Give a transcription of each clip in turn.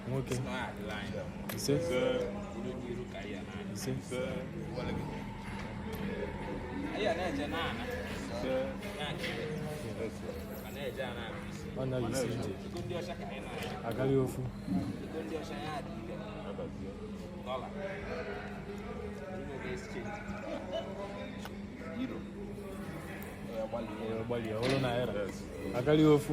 nwoke ise ise ọ naghị isi ije agaghị ofu gbalịa ọhụrụ naira agaghị ofu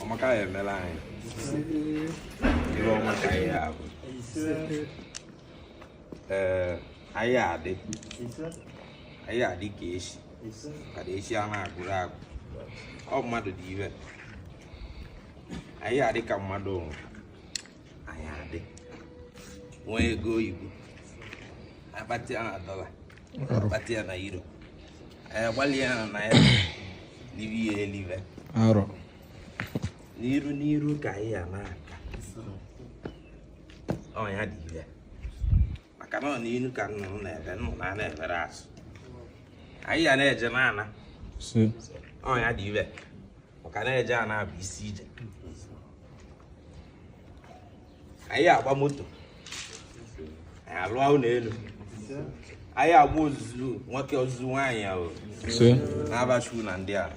ọ maka ya emela anyị ive ọma ka anyị ya-avụ ee anyị adị anyị adị ka echi ka na echi a na-agwụrọ agwụ ọ mmadụ dịve anyị adị ka mmadụ anyị adị nwee ego oyibo akpata ya na dọla akpata ya na euro anyị agbalị ya na naira live ya elive arọ n'iru n'iru ka anyị ya na-aga ọ ya-adịve maka na ọ n'iru ka nnụnụ na-eve nnụnụ ana-everọ azụ anyị ya na-eje na-ana ise ọ ya-adịve maka na eje ana bụ isi ije anyị agba moto anyị alụọ ụlọ elu anyị agba ozuzu nwoke ozuzu nwaanyị ahụ na-abachu na ndị ala